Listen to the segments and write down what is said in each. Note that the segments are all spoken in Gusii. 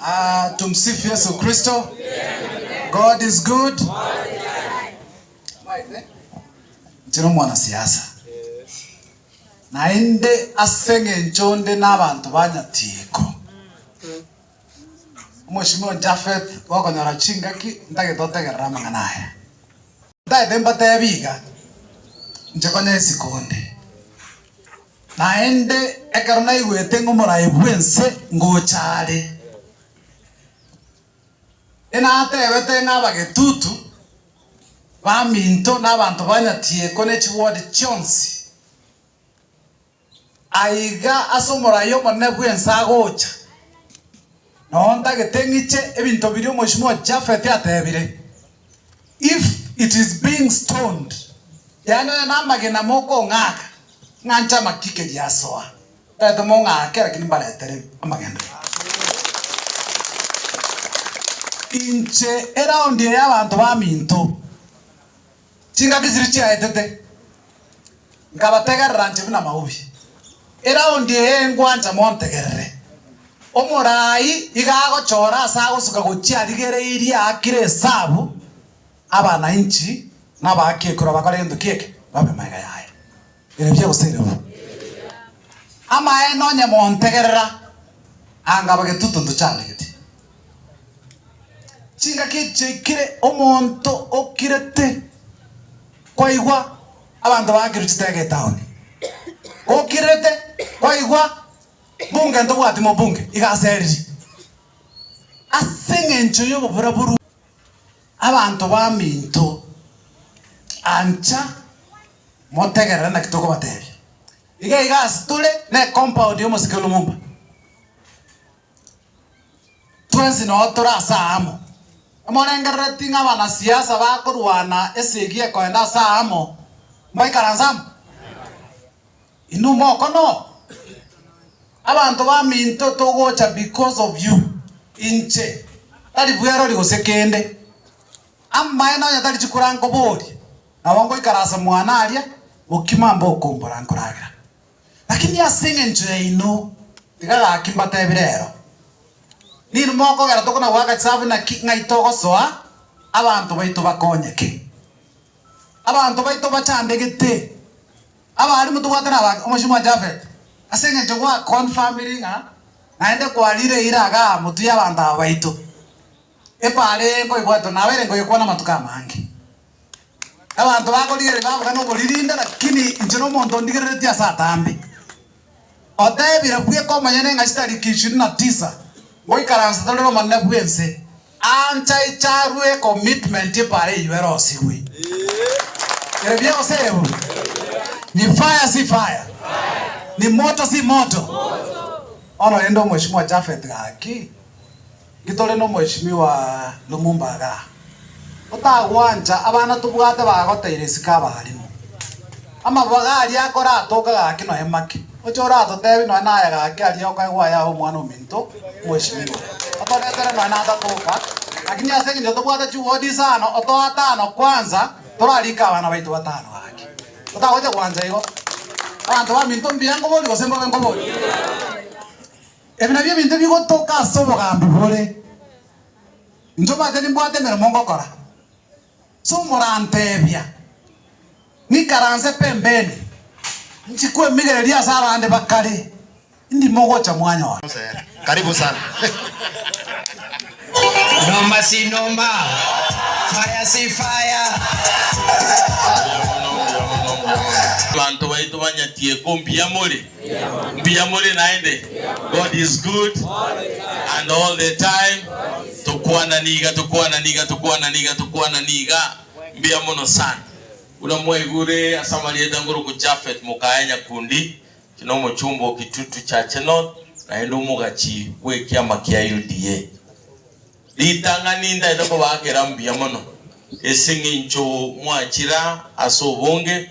Aah tumsifu Yesu kristo God is good Mwaete inche nomwana siasa naende ase eng'encho nde nabanto ba nyatieko Omweshimiwa Japheth gokonyora chingaki ntagete otegerera amang'ana aya ntagete mbatebi iga inche konya esiko nde. Naende ekero naigwete ng'a omoraai bw'ense ngocha are, enateebete ng'a abagetutu, baminto, na abanto ba nyatieko ne chiward chionsi, aiga ase omoraai omonene bw'ense agocha. Na ontagete ng'iche ebinto biria Omwoisimwa Japheth ateebire, If it is being stoned, yaani onye namagena mokong'aka, ng'anche amaki keria asoa, tari mong'ake, lakini mbaretere amagena. Inche eraundi eye abanto baminto, Chingaki chiria chiaetete nkabategerera nche buna maobi. Eraundi eye ngwancha montegerere. Omoraai iga agochora ase agosuka gochia arigere iria aakire esabu, abanainchi na abaaki ekura bakore gento ki'eke, babe magega yaye. Erio biagoseirigwa. Amaene onye montegerera, anga abagetuto ntochandegete. Chingaki echiaikire omonto okirete kwaigwa abanto baakirwe chitege etaoni. Okirete kwaigwa mbunge ntobwati mobunge, iga aseririe. Ase engencho y'oboburaburu. Abanto baminto, ancha motegerere naki tokobatebia. Iga iga ase tore ne compound y'omosike Lumumba. Twensi noo tore ase aa amo. Morengerereti ng'a abanasiasa bakorwana esegi ekoenda ase aa amo mbaikaranse amo? Inwe mokonoa? Abanto baminto togocha because of you. Inche, tari bwerori gose kende. Amaene onye tari chikura nkoboria, nabo ngoikara ase mwane aria, gokima mbe okombora nkoragera. Lakini ase engencho yaino, tiga gaki mbatebire ero, ninwe mokogera tokonagoaka chisabu naki ng'ai togosoa abanto baito bakonyeke. Abanto baito bachandegete. Abaalimu tobwate nabake omochie mwa Japhet, ase engencho gwa confirmiri ng'a naende kwarire eira agaa motu y'abanto aba baito. Epaara eye nkoebwatwa nabo ere nkoyekwana amatuko amange. Abanto bakorigereria babuga noboririnde, lakini inche nomonto ondigereretie ase atambe. Oteebire bweka omonyene ng'a chitariki ishirini na tisa ngoikaransa tore nomonene bw'ense, ancha icharwe ecommitment epara eyio erosirwe. Ere bia goserebwa? Ni fire si fire? Ni moto si moto? Bono rende omweshimiwa Japhet gaki. Inki tore n'Omweshimiwa Lumumba iga? Otagwancha abana tobwate bagoteire isiko abaalimu. Amabaga aria akoratoka gaki noe make. Oche oratotebi noe naye gaki aria okaigwa ayae omwana ominto Omweshimiwa. Otoretere noe natatoka. Lakini ase engencho tobwate chiwodi isano otoe atano kwanza torarike abana baito batano gaki. Otagocha gwancha igo. Abanto baminto mbuya nkobori gose mbobe nkobori? Ebi nabio ebinto ebigotoka ase obogambi bore, Inche omanyete nimbwate emeremo ngokora. So moranteebia, Ng'ikaranse pembeni, nchi kwemigereria ase abande bakare, ndi mogocha mwanyora. Karibu sana. Noma si noma. Fire si fire. Abanto baito banyatie ko mbuya more. Mbuya more naende? God is good and all the time tokwana niga tokwana niga tokwana niga tokwana niga mbuya mono sana. Buna mwaigure ase amarieta ngoroku Japheth mokaya nyakundi ki nomochumba o Kitutu Chache North naende omogachi bw'ekiama kia UDA. Ritang'ani ntaete kobakera mbuya mono ase eng'encho mwachira ase obonge.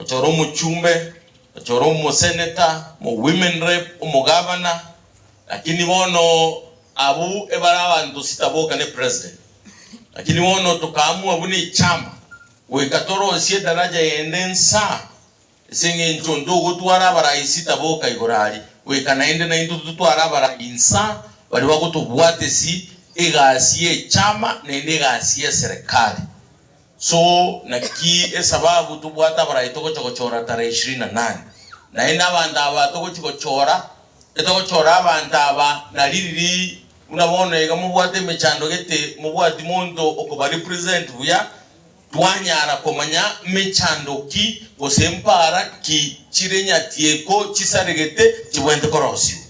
ochore omochumbe, ochore omoseneta, omowomen rep, omogavana, lakini bono abwo ebare abanto sitaboka ne president. Lakini bono tokaamua buna echama goika torosie edaraja yende nsa ase engencho onde ogotwara abarai sitaboka igoro aria, goika naende naintwe totware abarai nsa baria bagotobwatesi egasi y'echama naende egasi y'eserekari. So, naki esababu tobwate abarai togocha gochora tarehe ishirini na nane? Naende abanto aba togochi gochora, etogochora abanto aba naririri buna bono iga mobwate emechando gete mobwati monto okobarepresent buya, twanyara komanya mechando ki gose mpaara ki chire nyatieko chisaregete chibwente korosiwa.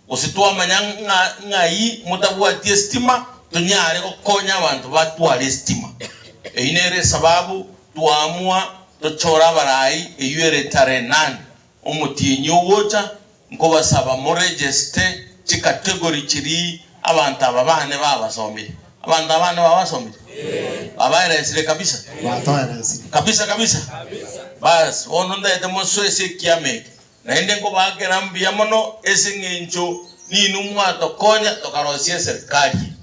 gose twamanya ng'a ng'ai motabwati esitima, tonyare gokonya abanto batware esitima. Eyio nere esababu twaamua tochore abarai eyio ere tarehe nane omotienyi ogocha, nkobasaba moregeste chicategory chiria abanto aba bane babasomire. Abanto aba bane babasomire? Babaeresire kabisa? Batoeresire. Kabisa kabisa? Baas, bono ntaete mosoesie ekiama eke. Naende nkobaakera mbuya mono ase eng'encho ninwe mwatokonya tokaroisia eserikari eye.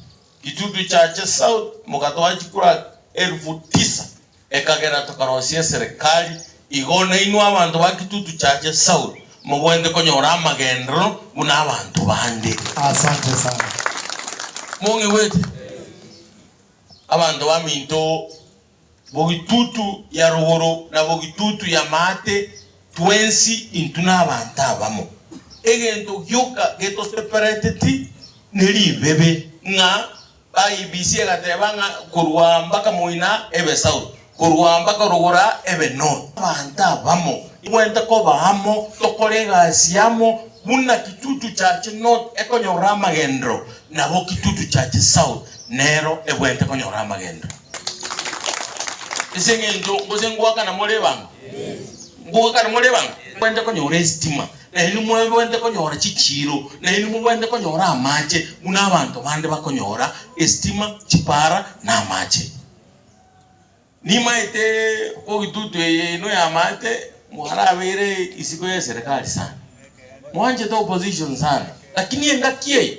Kitutu Chache South mokatoa chikura elfu tisa ekagera tokaroisia eserikari. Igo nainwe abanto ba Kitutu Chache South mobwenerete konyora amagenderero buna abanto bande. Asante sana. Mong'igwete? Abanto baminto bogitutu ya rogoro na bogitutu y'amaate, twensi intwe nabaanto abamo. Egento gioka getosepereteti neribibe, ng'a BBC egateba ng'a korwa mpaka moina ebe south, korwa mpaka rogora ebe north. Abanto abamo igwente koba amo tokore egasi yamo buna kitutu kiache north ekonyorora amagenderero nabo kitutu kiache south nero egwente konyora amagenderero. Ase engencho gose ngoakana more ebanga. Ngoakana more ebanga. Mobwenerete konyora esitima, na inwe mobwenerete konyora chichiiro, na inwe mobwenerete konyora amache buna abanto bande bakonyora esitima, chipara, na amache. Nimaete bogitutu eye ino ya amaate mwarabeire isiko ye serikali sana. Mwanchete opposition sana. Lakini engaki eye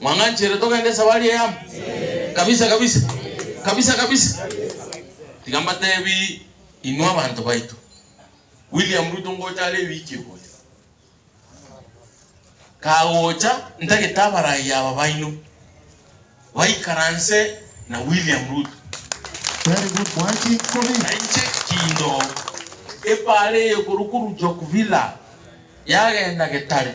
Mwang'anchere togende esabari eyamo? Kabisa kabisa. Kabisa kabisa. Tiga mbatebi inwe abanto baito, William Ruto ngocha are ewiki egocha, kagocha ntagete abarai aba baino baikaranse na William Ruto. Very good mwanchi nkobi. Na inche kindo ebare eye korwa korwa Jokvilla yagenda Getare.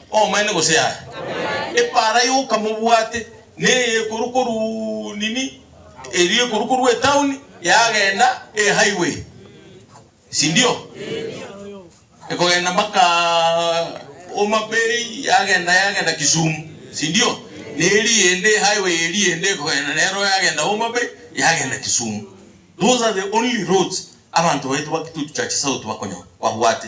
Omoene gose yaye? Epaara y'okamobwate neye ekorwa koruu nini erio ekorwa korwa etauni yagenda e highway, sindio? Ekogenda mpaka Homa Bay yagenda yagenda Kisumu, sindio? Neri ende e highway eri ende ekogenda nero yagenda Homa Bay yagenda Kisumu. Those are the only roads abanto baito ba Kitutu Church South bakonyora babwate.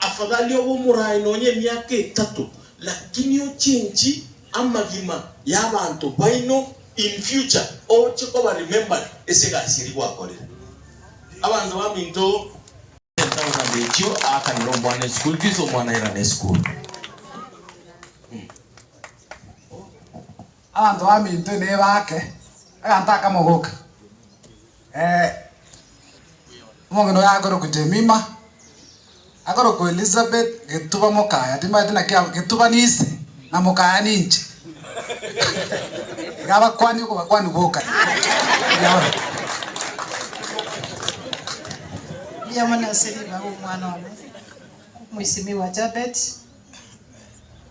Afadhali obe omoraai nonya emiaka etato, lakini ochenchi amagima y'abanto baino in future oche koba remembered ase egasi eria gwakorire. Abanto baminto ten thousand echio aakanera omwana eschool fees omwana airane esukuru. Abanto baminto ime ebaake aganto aka mogoke. Ee, omong'ina oye akorokwa Jemima, akorokwa Elisabet getuba mokaya, timanyete naki aba, getuba nise, na mokaya ninche. Iga abakuani okobakuani bokaire. Riamani ase ribaga omwana one, omoisimigwa Jabet.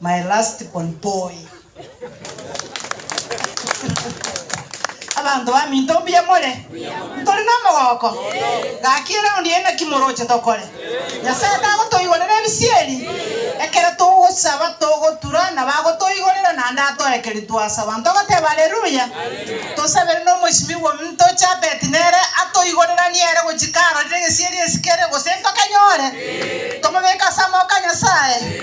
My last born boy. Abanto baminto mbuya more? Ntori nomogooko? Gaki eround eye naki moroche tokore? Nyasae tagotoigorera ebisieri? Ekero togosaba togotura na bagotoigorera naende atoekerie twasaba. Ntogoteba Alleluia? Tosabere nomoisimigwa ominto Jabet nere atoigoreranie ere gochika arorire egesieri esikere gose ntokanyore? Tomobeke ase amaboko a Nyasae?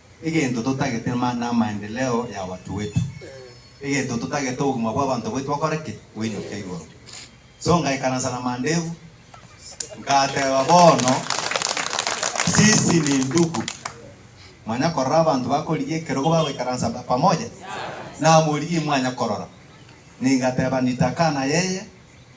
egento totagete mana amaendeleo ya watu wetu, egento totagete obogima bwa abanto baito bakore ki? Boinyoke igoro. So ngaikaransa na mandevu, ngateba bono sisi ni ndugu. Mwanya korora abanto bakorigia ekerogo bagoikaransa pamoja? Namorigia imwanya korora. Ningateba nitakana yeye.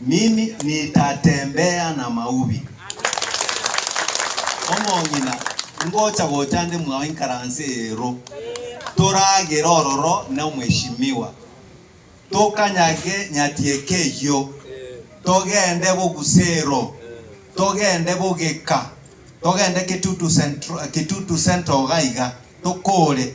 Mimi nitatembea na maubi. Omong'ina, ngocha gocha nde mwao inkaranse eero, toragere ororo na omweshimiwa, tokanyage nyatieka eyio, togende bogusero, togende bogeka, togende Kitutu Central, Kitutu Central iga iga, tokore.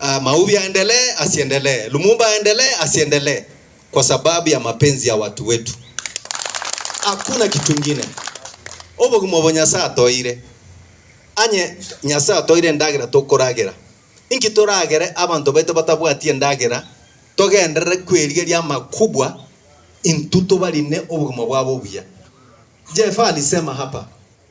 Ah, Maubi aendelee asiendelee, Lumumba aendelee asiendelee, kwa sababu ya mapenzi ya watu wetu. Hakuna kitu ngine. Obogima obo Nyasaye atoeire. Anye Nyasaye atoeire endagera tokoragera. Inki toragere abanto baito batabwati endagera togenderere kwerigeria amakubwa intwe tobarine obogima bwabo obuya. Jeff alisema hapa,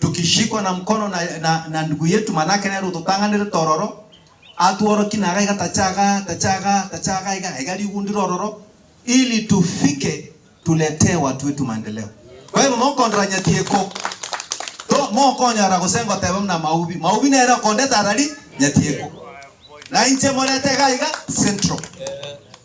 tokishikwa na mkono na, na, na ndugu yetu, manake nere ototang'anerete ororo, atworokie na iga iga tacha iga, tacha iga, tacha iga iga, iga rigundire ororo, ili tufike tuletee watu wetu maendeleo. Kwa hivyo mokondora nyatieko to mokonyora gose ngoteba muna maubi maubi nere okondeta arari nyatieko na inche morete iga iga central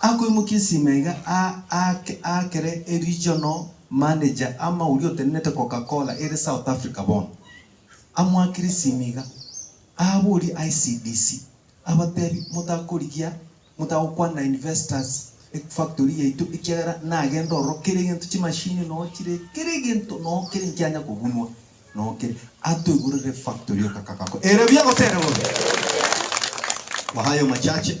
Akoimokia esima iga aake aakere e regional manager ama oria otenenete Coca-Cola ere South Africa bono. Amoakire esima iga aaborie ICDC abatebi motakorigia motagokwana na investors e factory yaito ekiagera nagende ororo kera egento chimachine noo chire kera egento noo kere nkianya kobunwa noo kere atoigorere factory oko kagakora. Ere buya gose ere bobe? Kwa hayo machache.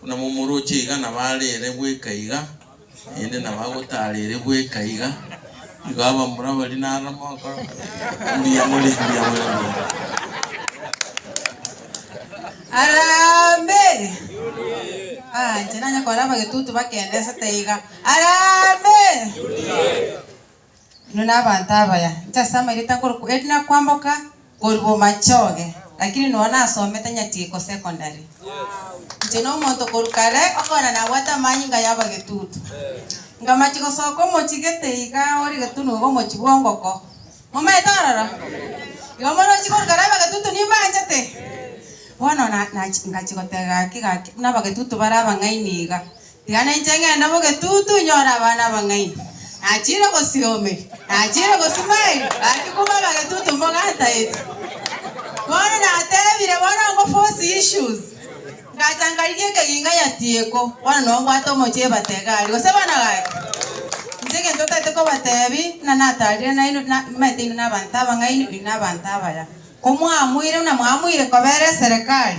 Buna momoroche iga nabarere bweka iga, naende nabagotarere bweka iga, nigo abamura baria naro mogokora mbuya more mbuya more mbuya more. Harambee! Ah, inche nanye kore abagetutu bakenesete iga. Harambee! Inwe nabaanto abaya, inche ase amaireta nkorokwa erina kwamboka korwa bomachoge, lakini nonya nasomete nyatieko secondary. Inche nomonto korwa kare okogenda nabwate amanyinga yaba getutu. Nkamachia gosoka omochie gete iga ore getunu iga omochie bwa ongoko. Momaete ororo? Igo omorochi korwa kare aba getutu nimbanchete. Bono na- nachi- ngachia goteba gaki gaki buna aba getutu bare abang'aini iga, Tiga nainche ngende bw'egetutu nyore abana abang'aini. Nachiire gosioomeria, nachiire gosimaeria, gaki kube abagetutu mbogantaete. Bono nateebire, bono ngo force issues. Ngacha nkarigia ekeginga nyatieko, bono noo mbwate omochie ebata egari, gose abana gaki. Inche egento ntaete kobateebia, buna natarire nainwe, na, mete inwe nabanto abang'aini, oino nabanto abaya. Komwamoire buna mwamoire kobera eserekari,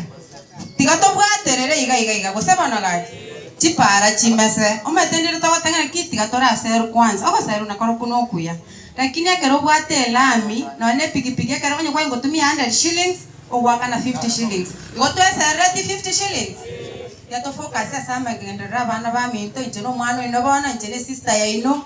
tiga tobwaterere iga iga iga, gose bono gaki, chipaara chimese. Omanyete ndire togotang'ana ki tiga tore aseru kwansa, ogoserwa nakorokwo nokuya. Lakini ekero obwate elami, nonya nepigipigi ekero onye kwanye gotumia a hundred shillings, ogoakana fifty shillings, igo tweserereti fifty shillings? Tiga tofocus ase amagenderero 'abana baminto, inche nomwana oino bono, inche nesister yaino.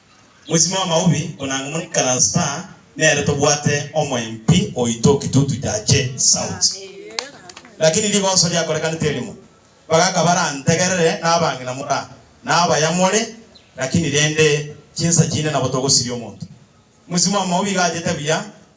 Mosime o Maobi, konanga omoni Karastaa, nere tobwate omoempi oito Kitutu Chache South. Lakini rigoso riakorekanete erimo, bagaka barantegerere nabang'ina mora nabaya more, lakini rende chinsa chinde nabo togosiria omonto. Mosime o Maobi iga achete buya,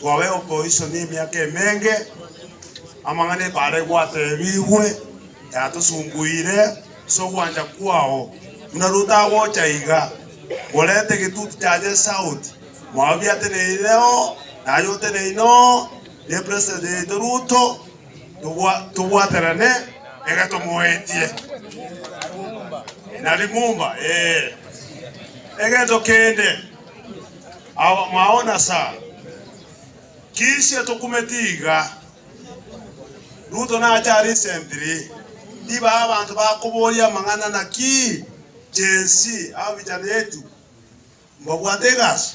Kwabe okoichwa nemiaka emenge, amang'ana ebare gwatebigwe yatosumbuire ase ogwancha kwao, buna rotagocha iga. Morente egetuti kia Jesu out, mwao biateneire oo naye oteneine oo, ne president yaito Ruto, tobwaterane iga tomoetie na Limumba ee. Egento kende. Abamwao na Sara. Kiisia tokumeti iga. Ruto nacha recently, ibaha abanto bakoboria amang'ana naki Gen Z aba vijana yetu mbabwate egasi,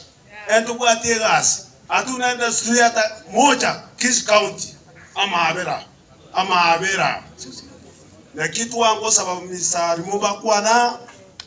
ere tobwati egasi atu na industry yata mocha Kisii County amaabera amaabera naki twangosaba Mister Arimo bakwana.